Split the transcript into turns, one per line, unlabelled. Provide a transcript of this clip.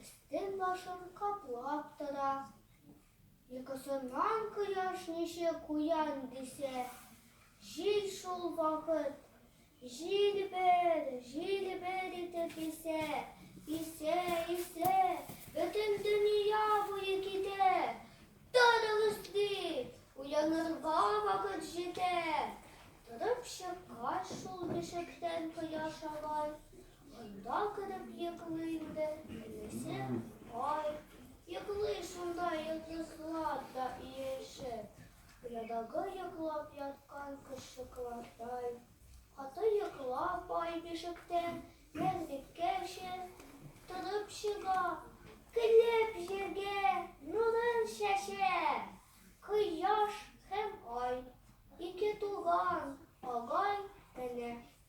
Өстен-башын каплап тора. Йокысыннан кояш ничек уян дисә, җил шул вакыт җилбер, җилбер итеп исә, исә, исә, бөтен дөнья буе китә. Торыгыз, ди, уянырга вакыт җитә. Торып чыккач, шул бишектән кояш алай Монда кереп йоклыйм да, минесем, ай, йоклый шунда йолдызлар да иешеп. Оядагы йоклап яткан кошчыклардай. Каты йоклап ай бишектә, нәзлеккәчә торып чыга. Көлеп җиргә нурын чәчә. Кояш һәм ай, ике туган, агай, әнә,